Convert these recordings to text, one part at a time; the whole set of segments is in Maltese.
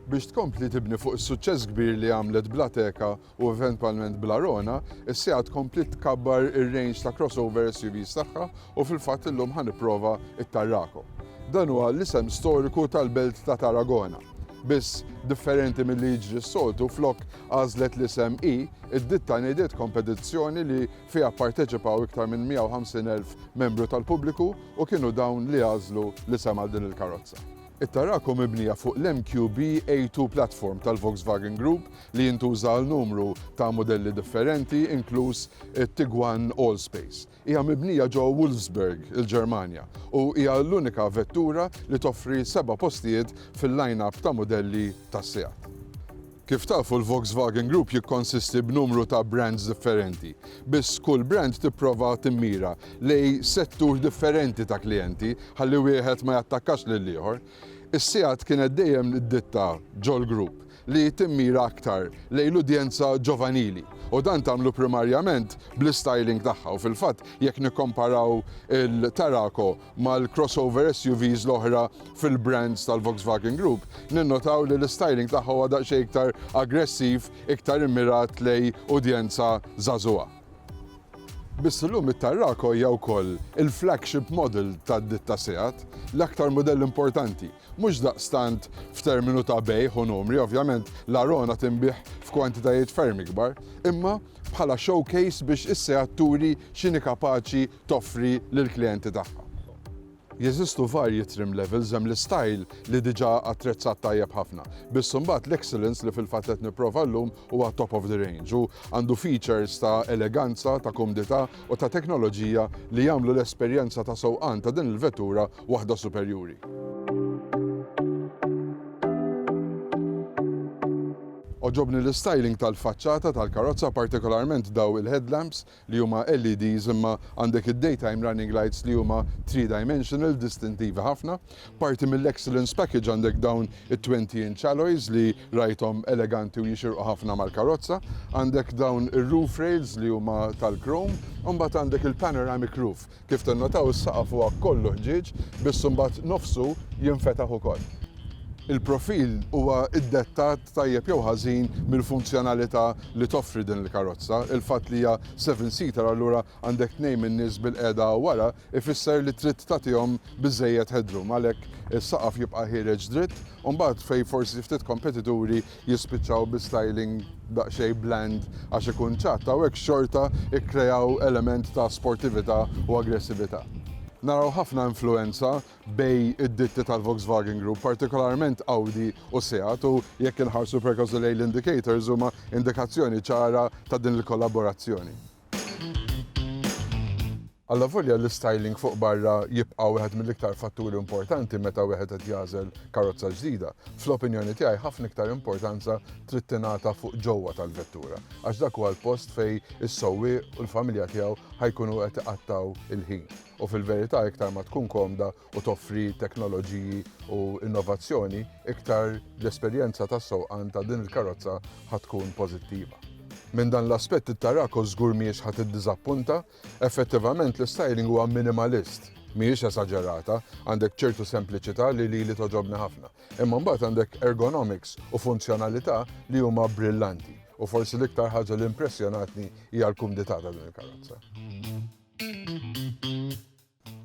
Biex tkompli tibni fuq is-suċċess kbir li għamlet Blateka u eventwalment Blarona, is-sija tkompli tkabbar ir-range ta' crossover SUVs tagħha u fil-fatt illum ħa nipprova it-Tarraco. Dan huwa l-isem storiku tal-belt ta' Tarragona. Biss differenti mill-li jiġri s-soltu flok għażlet l-isem I, id-ditta ngħidiet kompetizzjoni li Fiha pparteċipaw iktar minn 150,000 membru tal-pubbliku u kienu dawn li għażlu l-isem għal din il-karozza. It-Tarraco mibnija fuq l-MQB A2 platform tal-Volkswagen Group li jintuża għal numru ta' mudelli differenti, inkluż it-Tiguan Allspace. Hija mibnija ġo Wolfsburg, il-Ġermanja, u hija l-unika vettura li toffri seba' postijiet fil-line-up ta' mudelli tas-Seat. Kif tafu l-Volkswagen Group jikkonsisti b'numru ta' brands differenti, biss kull brand tipprova timmira lejn settur differenti ta' klijenti ħalli wieħed ma jattakkax lill-ieħor. Is-Seat kienet dejjem d-ditta ġol-grupp li timmira aktar lejn l-udjenza ġovanili u dan tagħmlu primarjament bl-istyling tagħha u fil-fatt jekk nikkomparaw il-Tarraco mal-crossover SUVs l-oħra fil-brands tal-Volkswagen Group, ninnotaw li l-istyling tagħha huwa daqsxejn iktar aggressiv, iktar immirat lejn udjenza żagħżugħa. Biss illum it-Tarraco hija wkoll il-flagship model tad-ditta Seat, l-aktar mudell importanti, mhux daqstant f'terminu ta' bejgħ u numri, ovvjament l-Arona tinbiegħ f'kwantitajiet ferm ikbar, imma bħala showcase biex is-Seat turi x'inhi kapaċi toffri lill-klijenti tagħha. Jeżistu varji trim levels, hemm l-istyle li diġà attrezzat tajjeb ħafna, biss imbagħad l-excellence li fil-fatt qed nipprova llum huwa top of the range u għandu features ta' eleganza, ta' kumdità u ta' teknoloġija li jagħmlu l-esperjenza ta' sewqan ta' din il-vettura waħda superjuri. Għoġobni l-istyling tal-faċċata tal-karozza, partikolarment dawn il-headlamps li huma LEDs imma għandek id-daytime running lights li huma three dimensional distintivi ħafna. Parti mill-excellence package għandek dawn it-twenty inch alloys li rajthom eleganti u jixirqu ħafna mal-karozza. Għandek dawn ir-roof rails li huma tal-chrome u mbagħad għandek il-panoramic roof. Kif tinnotaw is-saqaf huwa kollu ħġieġ biss imbagħad nofsu jinfetaħ ukoll. Il-profil huwa ddettat tajjeb jew ħażin mill-funzjonalità li toffri din il-karozza. Il-fatt li hija seven seater allura għandek tnejn min-nies bilqiegħda wara ifisser li trid tagħtihom biżżejjed headroom għalhekk is-saqaf jibqa' ħiereġ dritt u mbagħad fejn forsi ftit kompetituri jispiċċaw bi styling daqsxejn bland għax ikun ċatt, hawnhekk xorta kkreaw element ta' sportività u aggressività. Naraw ħafna influwenza bej id-ditti tal-Volkswagen Group, partikolarment Audi u Seat u jekk inħarsu perkażu lejn l-indicators huma indikazzjoni ċara ta' din il-kollaborazzjoni. Allavolja l-istyling fuq barra jibqa' wieħed mill-iktar fatturi importanti meta wieħed qed jagħżel karozza ġdida, fl-opinjoni tiegħi ħafna iktar importanza trid tingħata fuq ġewwa tal-vettura, għax dak huwa l-post fejn is-sewwieq u l-familja tiegħu ħa jkunu qed iqattgħu l-ħin. U fil-verità iktar ma tkun komda u toffri teknoloġiji u innovazzjoni, iktar l-esperjenza tas-sewqan ta' din il-karozza ħa tkun pożittiva. Minn dan l-aspett it-Tarraco żgur mhijiex ħa tiddiżappunta Effettivament l-istyling huwa minimalist. Mhijiex esaġerata, għandek ċertu sempliċità li lili togħġobni ħafna. Imma mbagħad għandek ergonomics u funzjonalità li huma brillanti. U forsi l-iktar ħaġa li impressjonatni hija l-kumdità ta' din il-karozza.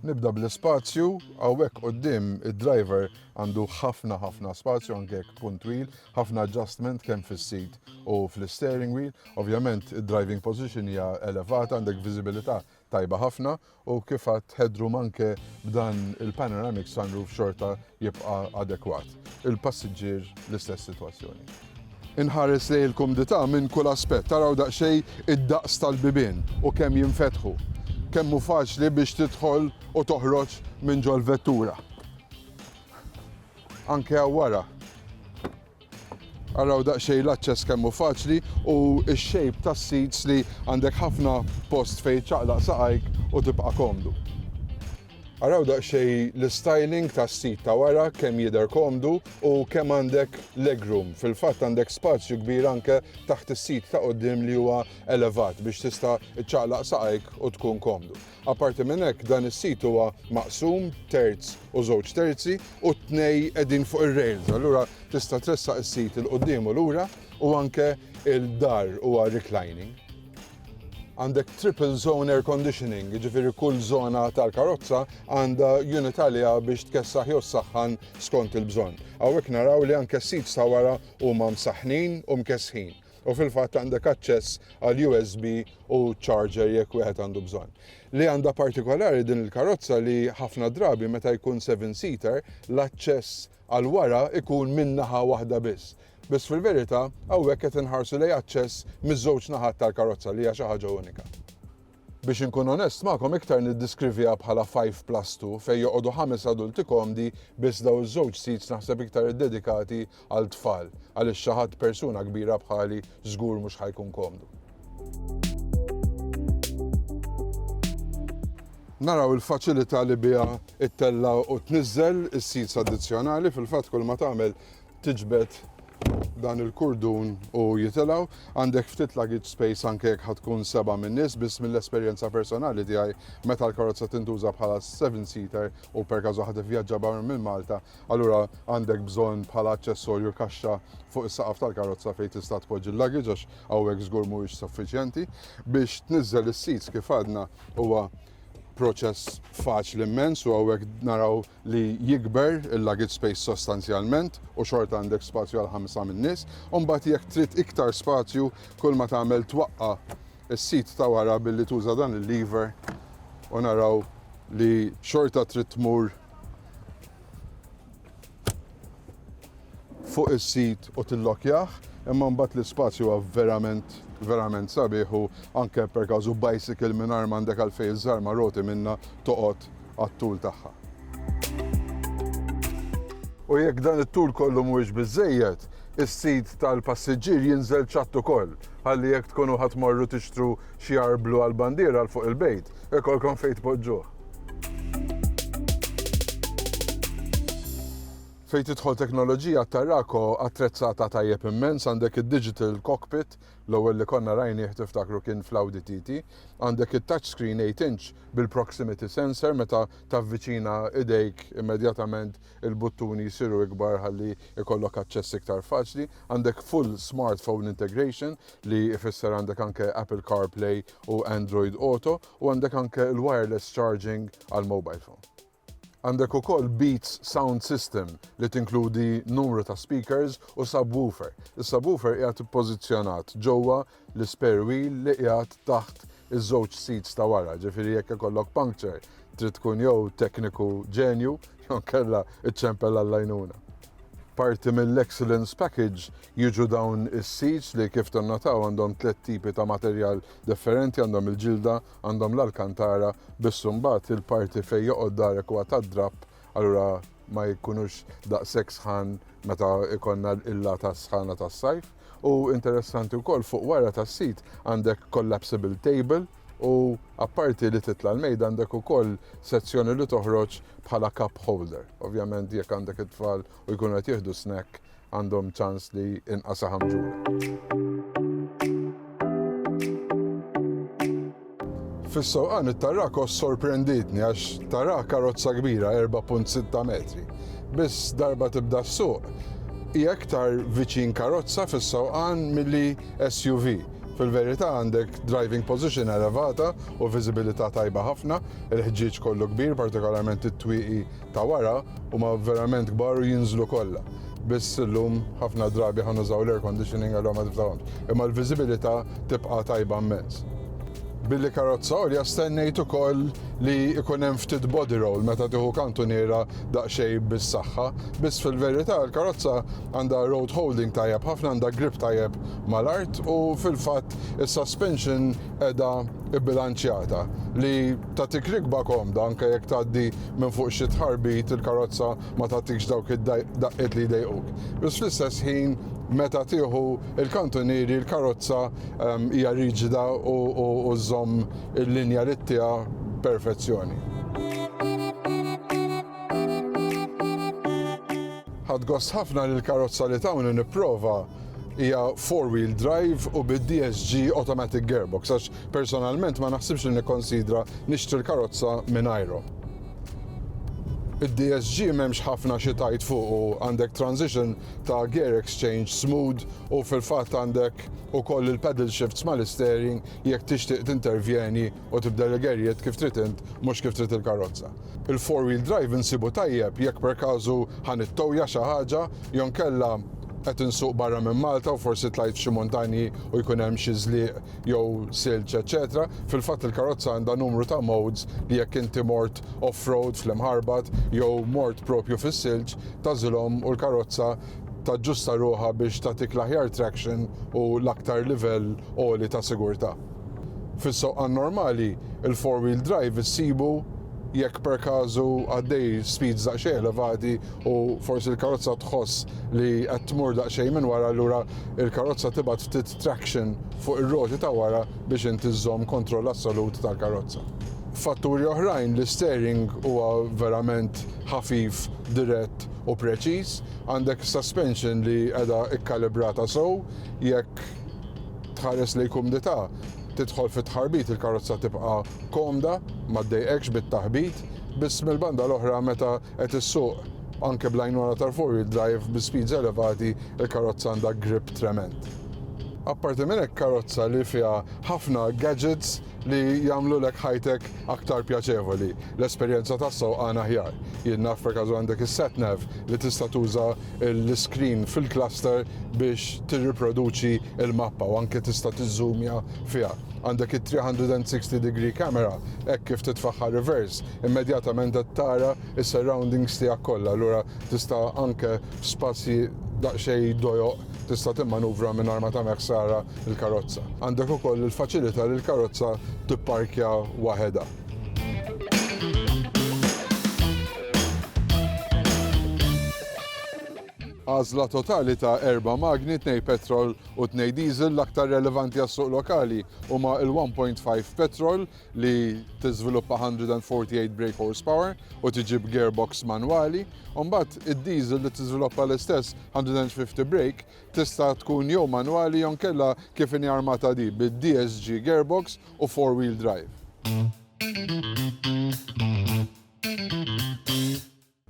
Nibda bl-ispazju, hawnhekk quddiem id-driver għandu ħafna ħafna spazju anke jekk kun twil, ħafna adjustment kemm fis-sit u fl-isteering wheel. Ovvjament id-driving position hija elevata, għandek viżibilità tajba ħafna u kif għadt headroom anke b'dan il-panoramic sunroof xorta jibqa' adekwat. Il-passiġġier l-istess sitwazzjoni. Inħares lejn il-kumdità minn kull aspett. Araw daqsxejn id-daqs tal-bibien u kemm jinfetħu. Kemm hu faċli biex tidħol u toħroġ minn ġol-vettura. Anke hawn wara. Araw daqsxejn l-aċċess kemm hu faċli u x-shape tas-seats li għandek ħafna post fejn iċċaqlaq saqajk u tibqa' komdu. Araw daqsxejn l-istyling tas-sit ta' wara kemm jidher komdu u kemm għandek legroom. Fil-fatt għandek spazju kbir anke taħt is-sit ta' quddiem li huwa elevat biex tista' ċċaqlaq saqajk u tkun komdu. Apparti minn hekk dan is-sit huwa maqsum terz u żewġ terzi u t-tnej qegħdin fuq ir-rails allura tista' tressaq is-sit 'il quddiem u lura u anke l-dahr huwa reclining. Għandek triple zone air conditioning, jiġifieri kull żona tal-karozza għandha unit għaliha biex tkessaħ jew ssaħħan skont il-bżonn. Hawnhekk naraw li anke s-seats ta' wara huma msaħħnin u mkessħin u fil-fatt għandek aċċess għal USB u charger jekk wieħed għandu bżonn. Li għandha partikolari din il-karozza li ħafna drabi meta jkun seven seater l-aċċess għal wara jkun minn naħa waħda biss. Biss fil-verità hawnhekk qed inħarsu lejn aċċess miż-żewġ naħat tal-karozza li hija xi ħaġa unika. Biex inkun onest magħkom iktar niddiskrivija bħala five plus two fejn joqogħdu ħames adulti komdi biss dawn iż-żewġ seats naħseb iktar iddedikati għal tfal għaliex xi ħadd persuna kbira bħali żgur mhux ħa jkun komdu. Naraw il-faċilità li biha ttella' u tniżżel is-seeds addizzjonali fil-fatt kull ma tagħmel tiġbed dan il-kurdun u jitilgħu. Għandek ftit luggage space anke jekk tkun seba' minn nies biss mill-esperjenza personali tiegħi meta l-karozza tintuża bħala seven seater u per każ waħda vjaġġa barra minn Malta Allura għandek bżonn bħala aċċessorju kaxxa fuq is-saqaf tal-karozza fejn tista' tpoġġi l-luggage għax hawnhekk żgur mhuwiex suffiċjenti. Biex tniżżel is-seats kif għadna huwa proċess faċli immens u hawnhekk naraw li jikber il-luggage space sostanzjalment u xorta għandek spazju għal ħamsa min-nies. Imbagħad jekk trid iktar spazju kull ma tagħmel twaqqa' is-sit ta' wara billi tuża dan il-lever u naraw li xorta trid tmur fuq is-sit u tillokjah, imma mbagħad l-ispazju huwa verament verament sabiħ u anke per każu bicycle mingħajr m'għandek għalfejn iż-żarma roti minnha toqgħod għat-tul tagħha. U jekk dan it-tul kollu mhuwiex biżżejjed, is-sit tal-passiġġier jinżel ċatt ukoll, ħalli jekk tkunu ħa tmorru tixtru xi arblu għall-bandiera 'l fuq il-bejt, ikollkom fejn tpoġġuh. Fejn tidħol teknoloġija t-Tarraco attrezzata tajjeb immens, għandek id-digital cockpit, l-ewwel li konna rajnih tiftakru kien fl-Audi TT, għandek it-touchscreen 8 inch bil-proximity sensor meta tavviċina idejk immedjatament il-buttuni jsiru ikbar ħalli jkollok aċċess iktar faċli, għandek full smartphone integration li jfisser għandek anke Apple CarPlay u Android Auto U għandek anke l-wireless charging għall-mobile phone. Għandek ukoll Beats sound system li tinkludi numru ta' speakers u subwoofer. Is-subwoofer qiegħed ippożizzjonat ġewwa l-spare wheel li qiegħed taħt iż-żewġ seats ta' wara, ġifieri jekk ikollok puncture trid tkun jew tekniku ġenju jew inkella iċċempel għall-għajnuna. Parti mill-Excellence Package jiġu dawn is-seats li kif tinnotaw għandhom tliet tipi ta' materjal Differenti għandhom il-ġilda, għandhom l-alkantara, biss imbagħad il-parti fejn joqgħod darek huwa tad-drapp, allura ma jkunux daqshekk sħan meta jkollna il-lata sħana tas-sajf. U interessanti wkoll fuq wara tas-sit għandek collapsible table u apparti li titla' l-mejda għandek ukoll sezzjoni li toħroġ bħala cup holder. Ovvjament jekk għandek it-tfal u jkunu qed jieħdu snack għandhom ċans li inqas saħam ġula. Fis-sewqan it-Tarraco sorprenditni għax tara karozza kbira 4.6 metri. Biss darba tibda s-suq hija iktar viċin karozza fis-sewqan milli SUV. Fil-verità għandek driving position elevata u viżibilità tajba ħafna, il-ħġieġ kollu kbir, partikolarment it-twieqi ta' wara huma verament kbar u jinżlu kollha. Biss illum ħafna drabi ħa nużaw l-air conditioning allura ma tiftaħhomx. Imma l-viżibilità tibqa' tajba mmens. Billi karozza għolja stennejt ukoll li jkun hemm ftit body roll meta tieħu kantuniera daqsxejn bis-saħħa. Biss fil-verità l-karozza għandha road holding tajjeb ħafna, għandha grip tajjeb mal-art u fil-fatt is-suspension qiegħda bbilanċjata li Tagħtik rikba komda anke jekk tgħaddi minn fuq xi tħarbit, il-karozza ma tagħtikx dawk id-daqqiet li jdejquk. Iżs fl-istess ħin meta tieħu l-kantunieri l-karozza hija riġida u żżomm il-linja li ttiha b'perfezzjoni. Ħadt gost ħafna li l-karozza li tawni nipprova hija four wheel drive u bid-DSG automatic gearbox għax personalment ma naħsibx li nikkonsidra nixtri l-karozza mingħajru. Id-DSG m'hemmx ħafna xi tajt fuq u għandek transition ta' gear exchange smooth u fil-fatt għandek ukoll il-pedal shifts mal-istering jekk tixtieq tintervjeni U tibdel il-gerriet kif trid int mhux kif trid il-karozza. Il-four wheel drive insibu tajjeb jekk per każu ħa nittowja xi ħaġa jew inkella qed insuq barra minn Malta u forsi tlajt f'xi muntanji u jkun hemm xi żliq jew silġ eċċetera. Fil-fatt il-karozza għandha numru ta' modes li jekk inti mort off-road fl-imħarbat jew mort proprju fis-silġ tagħżilhom u l-karozza taġġusta ruħha biex tagħtik l-aħjar traction u l-aktar livell għoli ta' sigurtà. Fis-sewqan normali, il-four wheel drive issibu jekk per każu għaddej speeds daqsxejn elevati u forsi l-karozza tħoss li qed tmur daqsxejn minn wara allura l-karozza tibgħat ftit traction fuq ir-roti ta' wara biex inti żżomm kontroll assolut tal-karozza. F'fatturi oħrajn l-isteering huwa verament ħafif, dirett u preċiż, għandek suspension li qiegħda kkalibrata sew, jekk Tħares lejn kumdità, Tidħol fit-tħarbit il-karozza tibqa' komda, ma ddejqekx bit-taħbit, biss mill-banda l-oħra meta qed issuq anke bl-għajnuna tal-four wheel drive bi speeds elevati l-karozza għandha grip tremend. Apparti minn hekk karozza li fiha ħafna gadgets li jagħmlulek ħajtek aktar pjaċevoli, l-esperjenza tas-sewqan aħjar. Jien naf perkażu għandek is-satnav li tista' tuża l-iskrin fil-cluster biex tirriproduċi l-mappa u anke tista' tiżżumja fiha. Għandek it-360 degree camera hekk kif titfagħha reverse, immedjatament qed tara s-surroundings tiegħek kollha, allura tista' anke f'spazji daqsxejn dojoq tista' timmanuvra mingħajr ma tagħmel ħsara il-karozza. Għandek ukoll il-faċilità li l-karozza tipparkja waħedha. Għażla totali ta' erba' magni, tnej petrol u tnej diesel l-aktar relevanti għas-suq lokali huma il-1.5 petrol li tiżviluppa 148 brake horsepower u tiġib gearbox manwali, u mbagħad id-diesel li tiżviluppa l-istess 150 brake Tista' tkun jew manwali jew nkella kif inhi armata di, bid-DSG gearbox u four wheel drive.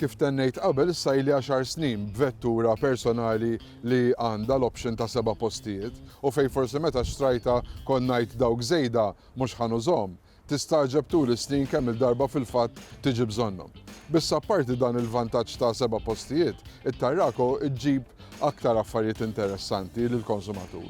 Kif tennejt qabel issa ili għaxar snin b'vettura personali li għandha l-option ta' seba' postijiet u fejn forsi meta xtrajtha kont ngħid dawk żejda mhux ħa nużhom. Tistagħġeb tul is-snin kemm-il darba fil-fatt tiġi bżonnhom. Biss apparti dan il-vantaġġ ta' seba' postijiet, it-Tarraco ġġib aktar affarijiet interessanti lill-konsumatur.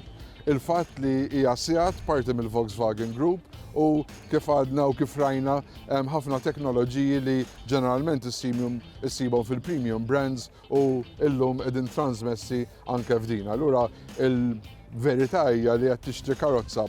Il-fatt li hija Seat, parti mill-Volkswagen Group, u kif għadna u kif rajna hemm ħafna teknoloġiji li ġeneralment issibhom issibhom fil-premium brands u llum qegħdin transmessi anke f'din. Allura il-verità hija li qed tixtri karozza